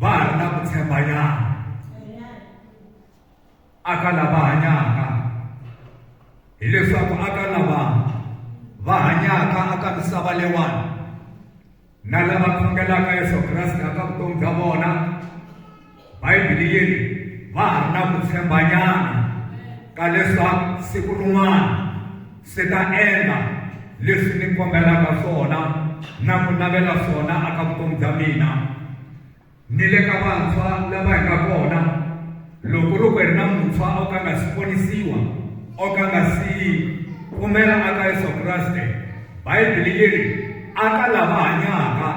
va ha ri na ku tshembanyana aka lava hanyaka hileswaku aka lava va hanyaka aka misava leyiwani na lava khongelaka yesu kreste aka vutomi bya vona bayibili yi ri va ha ri na ku tshembanyana ka leswaku siku rin'wana Ndzi ta endla leswi mi kombelaka swona na ku navela swona eka vutomi bya mina ni le ka vantshwa lava hi nga kona. Loko ku ri ku hi ri na muntshwa o ka a nga si ponisiwa, o ka a nga si pfumela eka Yesu Kreste, Bibele yi ri, A ka lava hanyaka.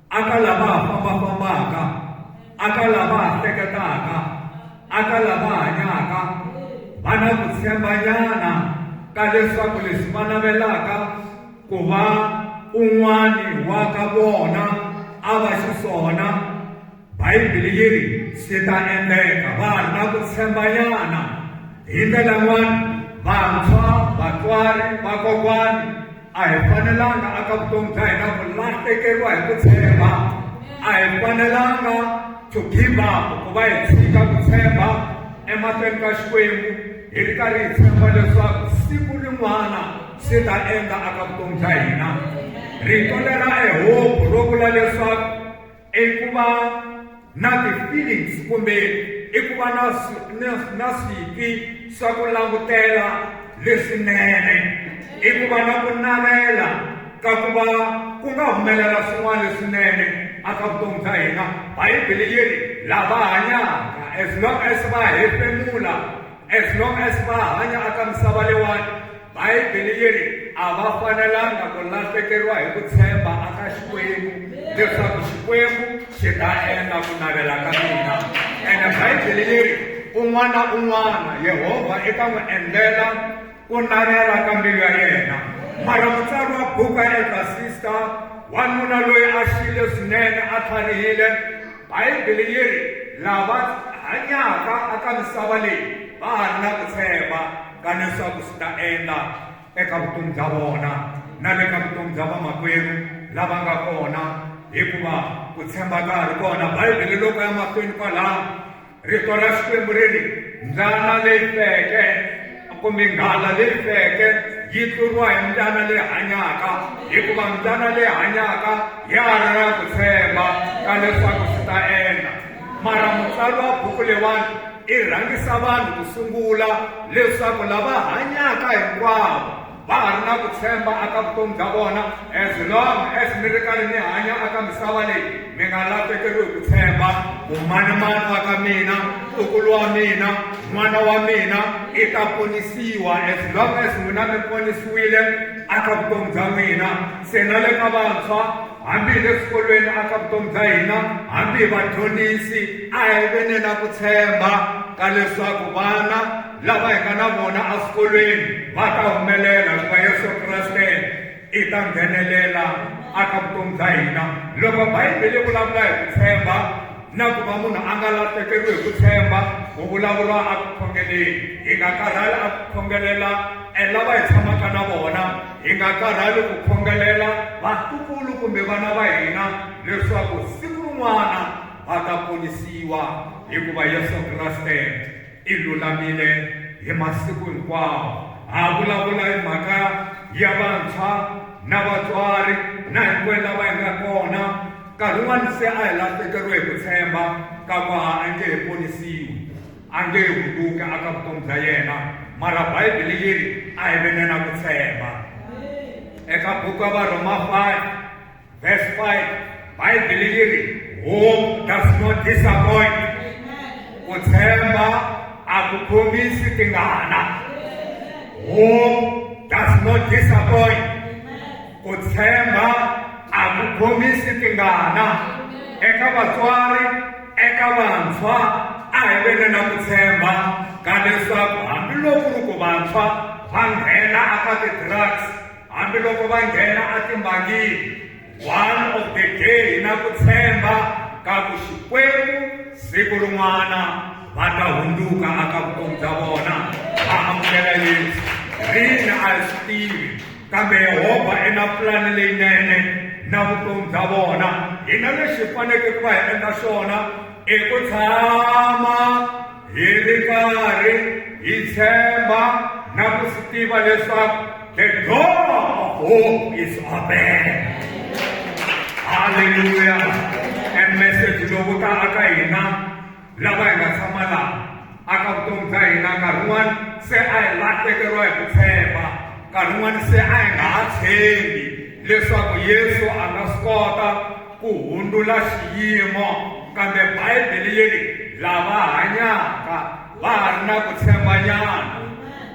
aka lava ha fambafambaka aka lava ha hleketaka aka lava hanyaka va na ku tshembanyana ka leswaku leswi va navelaka ku va un'wani wa ka vona a va xiswona bayibele yi ri swi ta endleka va ha ri na ku tshembanyana hi ndlela yin'wana vantshwa vatswari vakokwani a hi fanelanga aka vutomi bya hina ku lahlekeriwa hi ku tshemba a hi fanelanga to give up ku va hi tshika ku tshemba emahlweni ka xikwembu hi ri karhi hi tshemba leswaku siku rin'wana swi ta endla aka vutomi bya hina rito lera ehobu ro vula leswaku i ku va na ti-feelings kumbe i ku va na na na switwi swa ku langutela leswinene i ku va na ku navela ka ku va ku nga humelela swin'wana leswinene aka vutomi bya hina bibele yi ri lava hanyaka as long as va hefemula As long as va hanya aka misava leyiwani, Bibele yi ri a va fanelanga ku lahlekeriwa hi ku tshemba aka Xikwembu leswaku Xikwembu xi ta endla ku navela ka mina. Ene Bibele yi ri un'wana na un'wana Yehovha i ta n'wi endlela ku navela ka mbilu ya yena. Mara mutsari wa buku ya Elder Sister, wanuna loyi a xiyile swinene a tlharihile, Bibele yi ri, Lava hanyaka aka misava leyi va ha ri na ku tshemba ka leswaku swi ta endla eka vutomi bya vona na le ka vutomi bya vamakwerhu lava nga kona hikuva ku tshemba ka ha ri kona. Bibele loko ya mahlweni kwalaho. rito ra xikwembu ri ri mbyana leyi feke kumbe nghala leyi feke yi tluriwa hi mbyana leyi hanyaka hikuva mbyana leyi hanyaka ya ri na ku tshemba ka leswaku swi ta endla mara mutsari wa buku leyiwani i rhangisa vanhu ku sungula leswaku lava hanyaka hinkwavo va ha ri na ku tshemba aka vutomi bya vona as long as mi ri karhi mi hanya aka misava leyi mi nga lahlekeriwi ku tshemba mumanimani wa ka mina ntukulu wa mina n'wana wa mina i ta ponisiwa as long as n'wina mi ponisiwile aka vutomi bya n'wina se na le ka vantshwa hambi hi le swikolweni aka vutomi bya hina hambi hi vadyondzisi a hi venena ku tshemba ka leswaku vana Lava hi nga na vona eswikolweni va ta humelela hikuva Yesu Kreste i ta nghenelela aka vutomi bya hina. Loko Bibele yi vulavula hi ku tshemba na ku va munhu a nga lahlekeriwi hi ku tshemba ku vulavuriwa eku khongeleni hi nga karhali eku khongelela e lava hi tshamaka na vona hi nga karhali ku khongelela vatukulu kumbe vana va hina leswaku siku rin'wana va ta ponisiwa hikuva Yesu Kreste I lulamile hi masiku hinkwawo. Ha vulavula hi mhaka ya vantshwa na vatswari na hinkwenu lava hi nga kona. Nkarhi wun'wana se a hi lahlekeriwe hi ku tshemba ka ku a a nge he ponisiwi, a nge he hunguki aka vutomi bya yena. Mara Bibele yi ri, A hi veneni a ku tshemba. Eka buku ya Varhoma 5, That's why my delivery hope does not disappoint. Ku tshemba a ku khomisi tingana. Hope does not disappoint. Ku tshemba a ku khomisi tingana. Eka vatswari, eka vantshwa, a hi veni na ku tshemba ka leswaku hambiloko ri ku vantshwa va nghena aka ti-drugs Hambiloko va nghena etimbangini, one of the day hi na ku tshemba ka ku Xikwembu siku rin'wana va ta hundzuka aka vutomi bya vona va amukela Yesu. Rini a hi swi tivi, kambe Yehovha i na pulani leyinene na vutomi bya vona. Hina lexi hi fanekele ku va hi endla xona i ku tshama Hi ri karhi hi tshemba na ku swi tiva leswaku the God of hope is open. Haleluya. E message lowu ta aka hina lava hi nga tshama laha aka vutomi bya hina nkarhi wun'wana se a hi lahlekeriwa hi ku tshemba nkarhi wun'wana se a hi nga ha tshembi leswaku yesu a nga swi kota ku hundzula xiyimo, kambe Bibele yi ri lava hanyaka va ha ri na ku tshembanyana.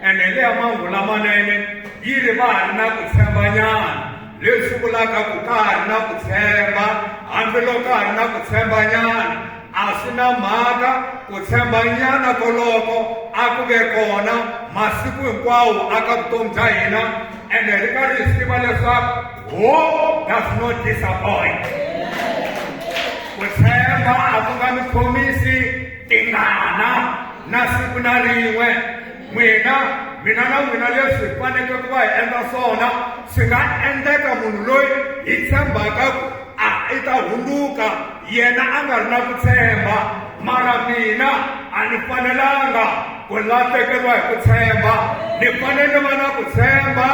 Ene leya mahungu lamanene yi ri va ha ri na ku tshembanyana, leswi vulaka ku ka ha ri na ku tshemba, hambiloko ka ha ri na ku tshembanyana a swi na mhaka ku tshembanyana koloko a ku ve kona masiku hinkwawo aka vutomi bya hina ene ri nga ri hi tiva leswaku Hope does not disappoint. Ku tshemba a ku nga mi khomisi tingana na siku na rin'we. N'wina, mina na n'wina leswi hi faneke ku va hi endla swona swi nga endleka munhu loyi hi tshembaka ku a i ta hundzuka yena a nga ri na ku tshemba mara mina a ni fanelanga ku lahlekeriwa hi ku tshemba ni fanele ni va na ku tshemba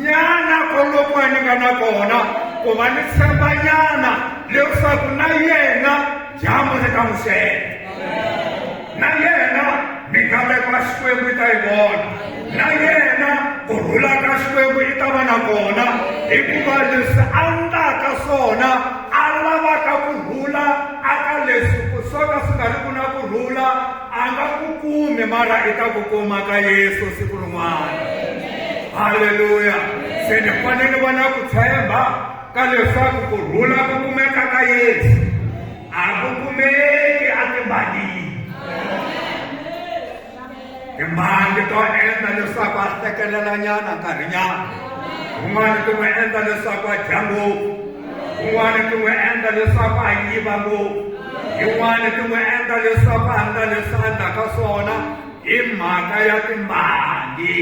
nyana koloko ni nga na kona ku va ni tshemba nyana leswaku na yena dyambu ri ta n'wi xela na yena mingameko ya xikwembu yi ta yi vona na yena ku rhula ka xikwembu yi ta va na kona hikuva leswi a ndlaka swona a lavaka ku rhula aka leswi ku swo ka swi nga ri ku na ku rhula a nga ku kumi mara i ta ku kuma ka yesu siku rin'wana halleluya se ni fanele va na ku tshemba ka leswaku ku rhula ku kumeka ka yesu a ku kumeki a timbalini timbangi to endla leswaku a tekelelanyana nkarhinyana un'wana ti n'wi endla leswaku a dya ngopfu kun'wana ti n'wi endla leswaku a yiva ngopfu yin'wana ti n'wi endla leswaku a nga leswi a endlaka swona hi mhaka ya timbangi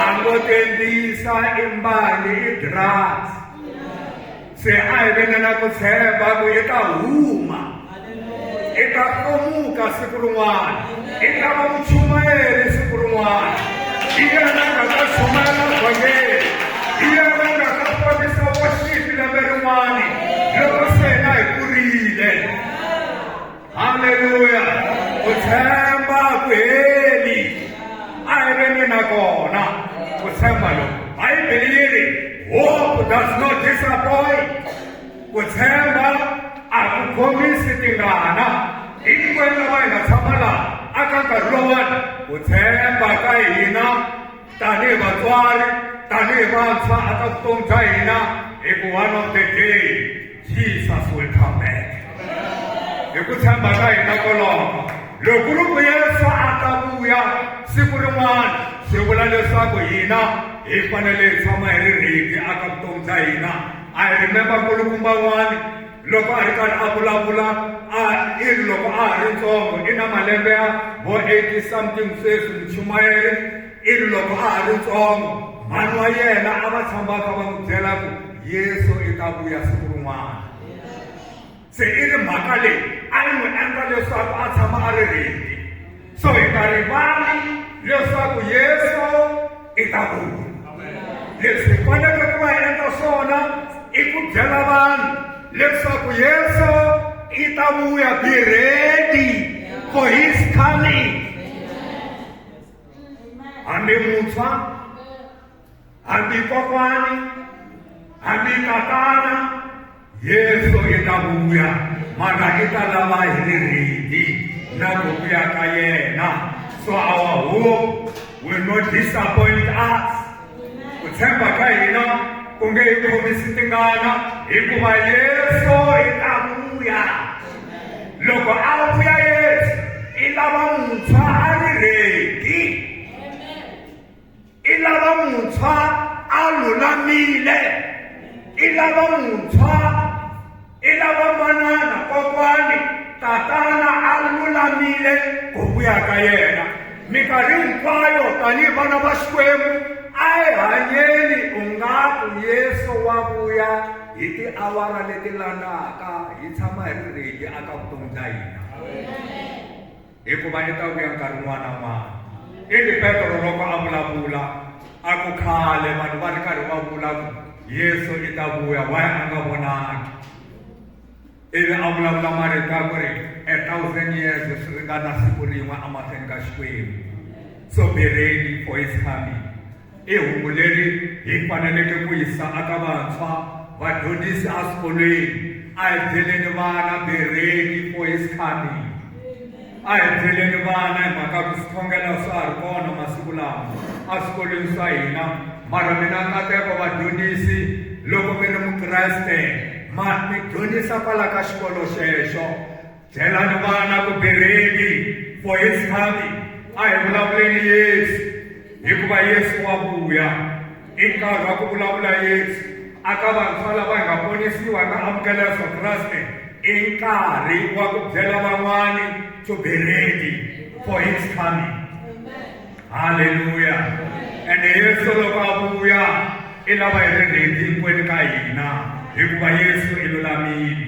a ngo tendlisa i mbangi i drugs se a hi venela ku tshemba ku yi ta huma i ta komuka siku rin'wana i ta va muchumayeri siku rin'wana i yena nga ta chumayela vhangeli i yena nga ta ponisa washipi lembe rin'wana loko se hina hi kurile halleluya ku tshemba ku heli a hi ve ni na kona ku tshemba loko bibele yi ri hope does not disappoint Ku tshemba a ku khomisi tingana. Hinkwenu lava hi nga tshama laha aka nkarhi lowani, ku tshemba ka hina tanihi vatswari, tanihi vantshwa a ka vutomi bya hina hi ku one of the day Jesus will come back. Hi ku tshemba ka hina koloko loko ri ku Yesu a ta vuya siku rin'wana swi vula leswaku hina hi fanele hi tshama hi ri ready aka vutomi bya hina. I remember nkulukumba n'wani loko a ri karhi a vulavula a i ri loko a ha ri ntsongo i na malembe ya vo eighty something sweswi muchumayeri i ri loko a ha ri ntsongo mhani wa yena a va tshambaka va n'wi byela ku yesu i ta vuya siku rin'wana se i ri mhaka leyi a yi n'wi endla leswaku a tshama a ri rindi so hi nga rivali leswaku yesu i ta vuya leswi hi faneleke ku va hi endla swona i ku byela vanhu leswaku yesu i ta vuya be ready for his coming hambi muntshwa hambi kokwani hambi tatana yesu i ta vuya mara i ta lava hi ri rindi na ku vuya ka yena so our hope will not disappoint us ku tshemba ka hina ku nge hi khomisi tingana hikuva yesu i ta vuya loko a vuya yesu i lava muntshwa a ri rindi i lava muntshwa a lulamile i lava muntshwa i lava manana kokwani tatana a lulamile ku vuya ka yena minkarhi hinkwayo tanihi vana va xikwembu a hi hanyeni ungaku yesu wa vuya hi tiawara leti landaka hi tshama hi ri redi aka vutomi bya hina hikuva i ta vuya nkarhi wun'wana na wun'wana ivi petro loko a vulavula a ku khale vanhu va ri karhi va vula ku yesu i ta vuya wa a nga vonangi ivi a vulavula marito ya ku ri a thousand years swi ringana siku rin'we emahlweni ka xikwembu so be ready for his coming I hungu leri hi faneleke ku yisa aka vantshwa, vadyondzisi eswikolweni. A hi byeleni vana bereni for his coming. A hi byeleni vana hi mhaka ku swikhongelo swa ha ri kona masiku lawa eswikolweni swa hina mara mina nkateko vadyondzisi loko mi ri mukreste ma mi dyondzisa kwala ka xikolo xexo Byelani vana ku bereni for his coming a hi vulavuleni yesu hikuva yesu wa vuya i nkarhi wa ku vulavula yesu aka vantshwa lava hi nga ponisiwa hi nga amukela yesu kreste i nkarhi wa ku byela van'wani to be ready for his coming halleluya ende yesu loko a vuya i lava hi ri ready hinkwenu ka hina hikuva yesu i lulamile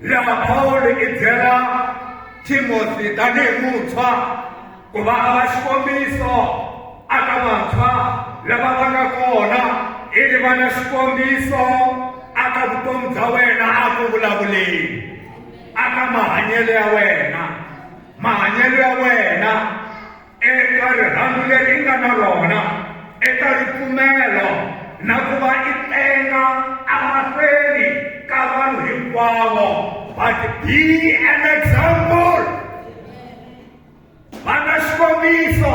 lama pawulo i byela timothi tanihi muntshwa ku va a va xikombiso a ka vantshwa lava va nga kona i ri va na xikombiso a ka vutomi bya wena a ku vulavuleni a ka mahanyelo ya wena mahanyelo ya wena eka rirhandzu leri nga na rona eka ripfumelo na ku va i tenga emahlweni ka vanhu hinkwavo but be an example va na xikombiso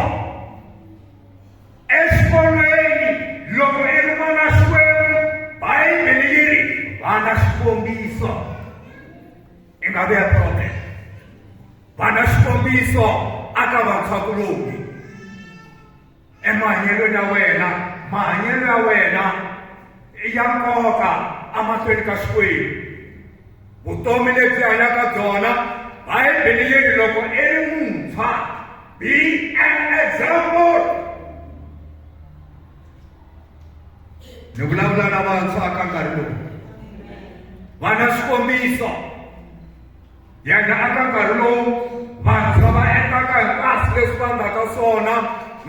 exikolweni loko i ri n'wana xikwembu bayibele yi ri va na xikombiso i nga vea problem vana xikombiso a ka vakhakuloni emahanyelo ya wena mahanyelo ya wena ya nkoka amahlweni ka xikwembu vutomi lebyi hanyaka byona bibele leri loko i ri muntshwa be an example ni vulavula na vantshwa ka nkarhi lowu va na xikombiso yena aka nkarhi lowu vantshwa va endlaka hinkwaswo leswi va nga ka swona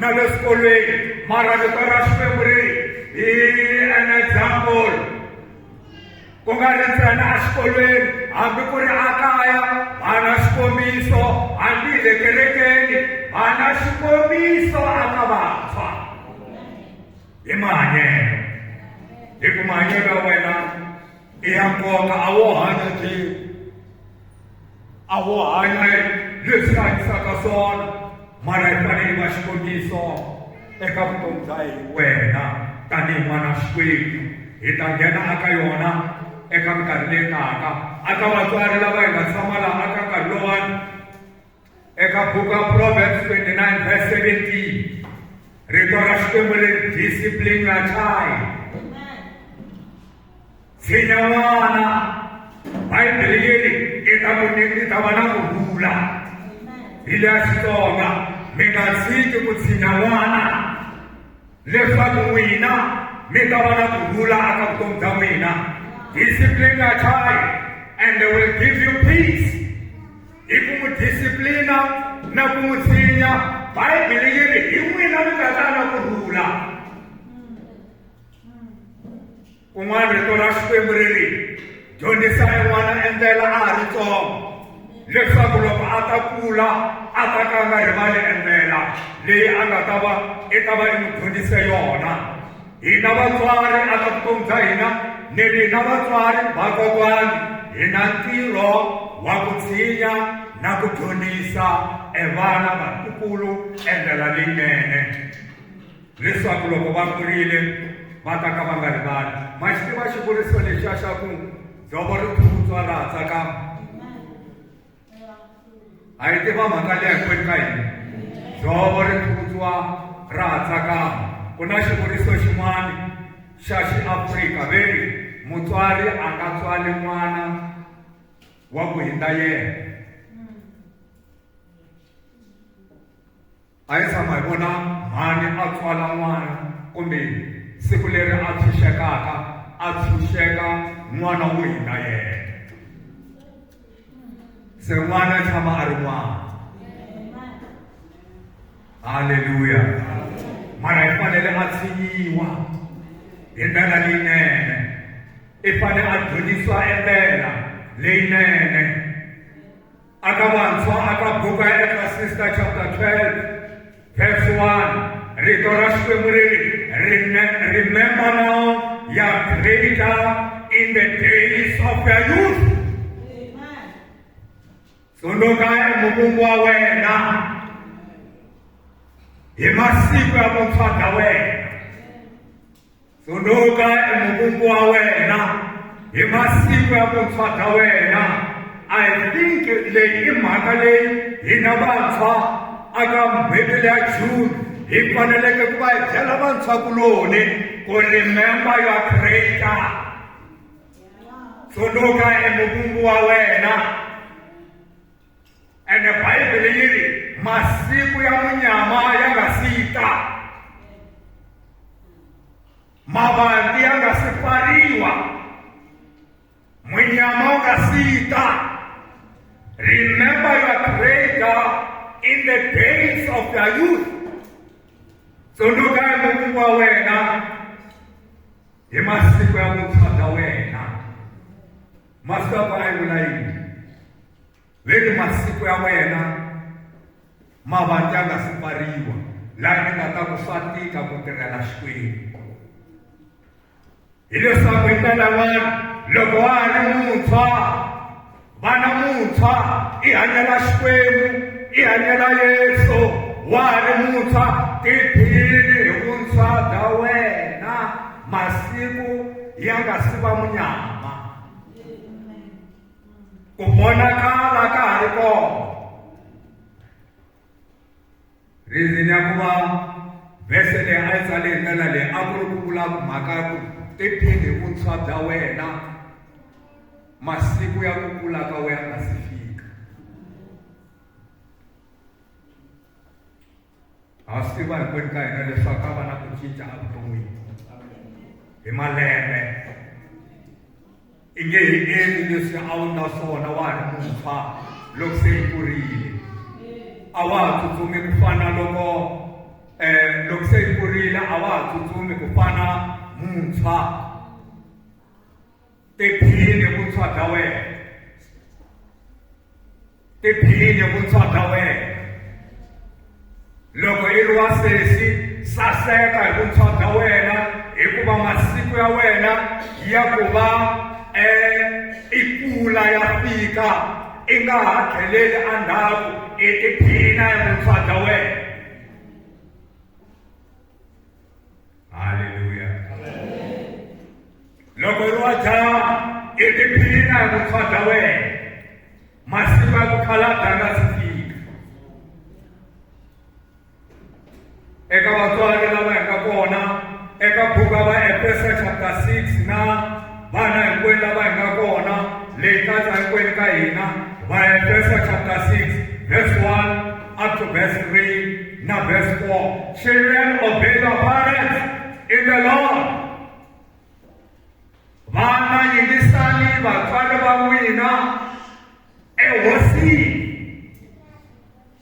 na le swikolweni mara vito ra xikwembu ri hi an example ku nga ri ntsena exikolweni hambi ku ri ekaya va na xikombiso hambi hi le kerekeni va na xikombiso aka vantshwa hi mahanyelo hi ku mahanyelo ya wena i ya nkoka a wo hanya njhini a ho hanya leswi a hanyisaka swona mara hi fanele hi va xikombiso eka vutomi bya hi wena tanihi n'wana xikwembu hi ta nghena aka yona eka minkarhi leyi taka aka vatswari lava hi nga tshama laha aka nkarhi lowani eka buku ya proverbs 29 verse 17 rito ra xikwembu ri discipline your child tshinya n'wana bayibele yeri i ta ku i ta va na ku vula hi le ya xitsonga mi nga tshiki ku tshinya n'wana leswaku n'wina mi ta va na ku vula aka vutomi bya n'wina discipline your child and they will give you peace Hi ku n'wi disiplina na ku n'wi tshinya, Bibele yi ri hi n'wina mi nga ta na ku rhula. Kun'wana rito ra Xikwembu ri ri, dyondzisani n'wana endlela a ha ri tsongo, leswaku loko a ta kula a ta ka a nga rivali endlela leyi a nga ta va i ta va i n'wi dyondzise yona. hina vatswari a ka vutomi bya hina ni hina vatswari vakokwani hi na ntirho wa ku tshinya na ku dyondzisa evana vatukulu endlela leyinene leswaku loko va kurile va ta ka va nga rivali ma xi tiva xivuriso lexiya xa ku dzovo ri phutswa laha tsakama a yi tiva mhaka leyi hinkwenu ka hina dzovo ri phutswa ra ha tsakama ku na xivuriso xin'wana xa xiafrika ve ri mutswari a nga tswali n'wana wa ku hindza yena A hi tshama hi vona mhani a tswala n'wana kumbe siku leri a tshunxekaka a tshunxeka n'wana wo hina yena. Se n'wana tshama a ri n'wana. Haleluya. Mara hi fanele a tshinyiwa hi ndlela leyinene. I fanele a dyondzisiwa endlela leyinene. A ka vantshwa a ka buka ya Ekrasista chapter 12 verse 1 rito ra Xikwembu ri ri remember now your creator in the days of your youth tsundzuka emukungu wa wena hi masiku ya vuntshwa bya wena Tsundzuka emukungu wa wena hi masiku ya vuntshwa bya wena i think leyi i mhaka leyi hina vantshwa aka n'hweti leya june hi faneleke ku va hi byela vantshwakuloni ku remember your creator tsundzuka emukungu wa wena ene bibele yi ri masiku ya munyama ya nga si yi ta mavandi ya nga si pfariwa munyama wu nga si yi ta remember your creator in the days of their youth tsundzuka hi mukungu wa wena hi masiku ya vuntshwa bya wena masiku ya ku ayivula yini ve ni masiku ya wena ma va ya nga si pfariwa laha ni nga ta ku swa tika ku tirhela xikwembu hileswaku yi tala vanhu loko wa ha ri muntshwa vana muntshwa i hanyela xikwembu i hanyela yesu wa ha ri muntshwa tiphini hi vuntshwa bya wena masiku ya nga si va munyama ku vonakala ka ha ri kona reason ya ku va vhese leyi a yi tsale hi ndlela leyi a ku ri ku vula mhaka ya ku tiphini hi vuntshwa bya wena masiku ya ku kula ka wena nga si fika ha swi tiva hinkwenu ka hina leswaku a va na ku cinca evuton'wini hi malembe i nge hi endli leswi a wu nga swona wa ha ri muntshwa loko se i kurile a wa ha tsutsumi ku fana loko um loko se i kurile a wa ha tsutsumi ku fana muntshwa Tiphine vuntshwa bya wena. Tiphine vuntshwa bya wena. Loko i ri wa sesi, saseka hi vuntshwa bya wena hikuva masiku ya wena ya ku va e i kula ya fika i nga ha tlheleli endzhaku i tiphina hi vuntshwa bya wena. haleluya loko ri wa dzaha i tiphina hi vuntshwa bya wena masiku ya ku khala a danga sitika eka vatswari lava hi nga kona eka buku ya vaefeso chapter 6 na vana hinkwenu lava hi nga kona leyi katsa hinkwenu ka hina vaefeso chapter 6 verse 1 up to verse 3 na verse 4 children obey your parents in the lord vana yingisani vatswari va n'wina ehosini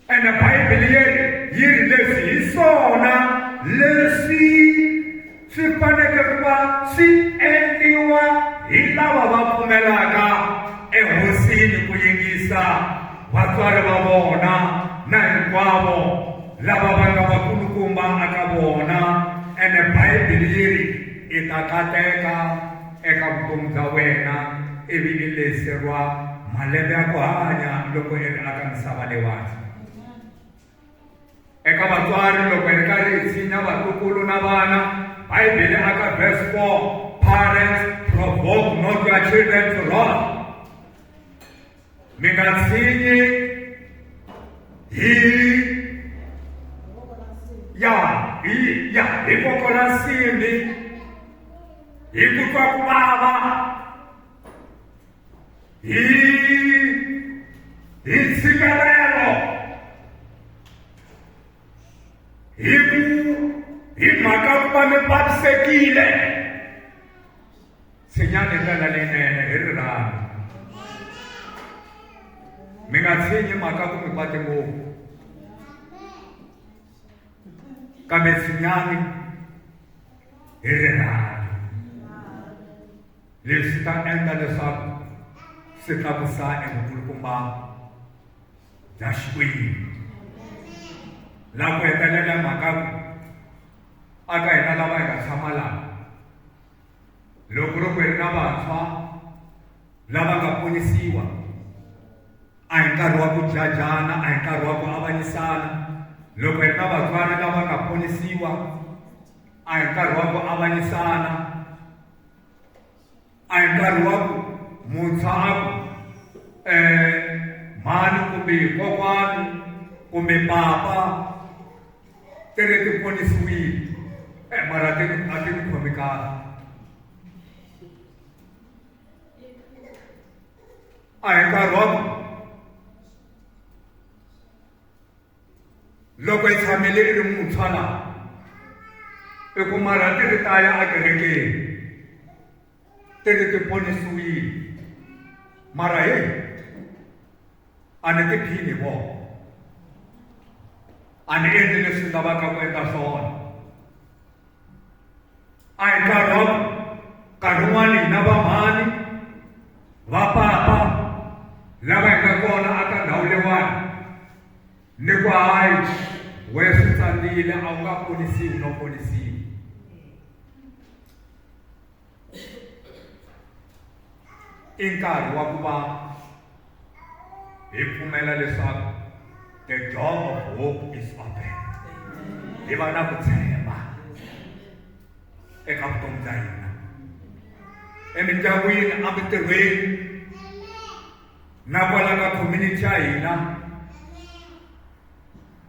Ene Bibele yeri yi ri leswi hi swona leswi swi faneke ku va swi endliwa hi lava va pfumelaka ehosini ku yingisa vatswari va vona na hinkwavo lava va nga vakulukumba aka vona ene Bibele yi ri i ta kateka Eka vutomi bya wena i vi ni lese rwa malembe ya ku hanya loko i ri aka misava leyiwani. Eka vatswari loko i ri karhi i tshinya vatukulu na vana, Bibele aka verse 4, Parents, provoke not your children to wrath. mi nga tshinyi hi ya hi ya hi voko la nsimbi hi ku twa ku vava hi hi ntshikelelo hi ku hi mhaka ku va mi vavisekile tshinyani ndlela leyinene hi rirhandzu mi nga tshinyi mhaka ku mi kwate ngopfu kambe tshinyani hi rirhandzu leswi ta endla leswaku swi tlakusa evukulukumba bya xikwembu laha ku hetelela mhaka ku aka hina lava hi nga tshama laha loko ro ku ri na vantshwa lava nga ponisiwa a hi nkarhi wa ku jajana a hi nkarhi wa ku avanyisana loko hi ri na vatswari lava nga ponisiwa a hi nkarhi wa ku avanyisana a hi nkarhi wa ku muntshwa a ku um mhani kumbe kokwani kumbe papa Ti ri ti ponisiwile e mara a ti a ti ni khomi kahle a hi nkarhi wa ku loko hi tshamele i ri muntshwa laha i kuma rhati ri ta ya ekerekeni tete ti ponisiwile mara he a ni tiphini hi vona a ni endli leswi ni lavaka ku endla swona a hi nkarhi wa nkarhi wun'wana hi na vamhani va papa lava hi nga kona a ka ndhawu leyiwani ni ku hayi wena swi tsandile a wu nga ponisiwi no ponisiwi i nkarhi wa ku va hi pfumela leswaku the door of hope is open hi va na ku tshemba eka vutomi bya hina emindyangwini emitirhweni na kwala ka community ya hina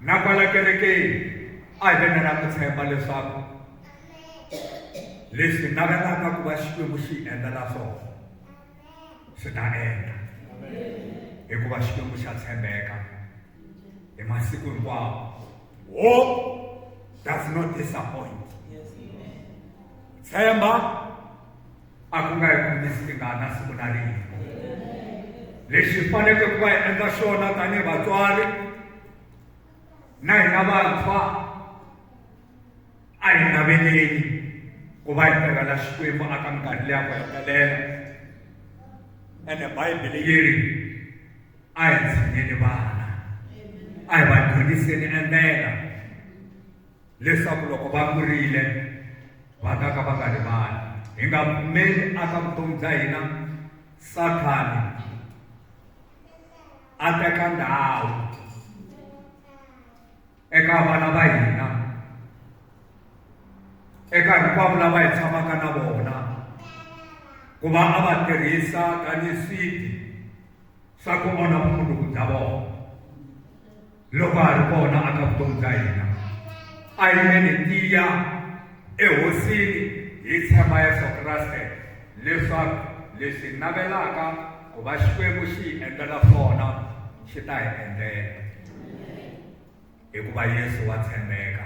Na kwala kerekeni a hi ve na na ku tshemba leswaku leswi navelaka ku va Xikwembu xi hi endlela swona swi ta endla hikuva Xikwembu xa tshembeka hi masiku hinkwawo hope does not disappoint tshemba a ku nga yi kumisi tingana siku na rin'we lexi hi faneleke ku va hi endla xona tanihi vatswari na hina vantshwa a hi naveleni ku va hi tirhela xikwembu aka minkarhi leya ku hetelela ene bayibele yi ri a hi tshineni vana a hi va dyondziseni endlela leswaku loko va kurile va ta ka va nga rivali hi nga pfumeli a ka vutomi bya hina sathani a teka ndhawu eka vana va hina eka hinkwavo lava hi tshamaka na vona ku va a va tirhisa tanihi swidyi swa ku onha vumundzuku bya vona loko a ri kona a ka vutomi bya hina a yi ve ni tiya ehosini hi tshemba yesu kreste leswaku lexi hi navelaka ku va xikwembu xi hi endlela swona xi ta hi endlela hikuva yesu wa tshembeka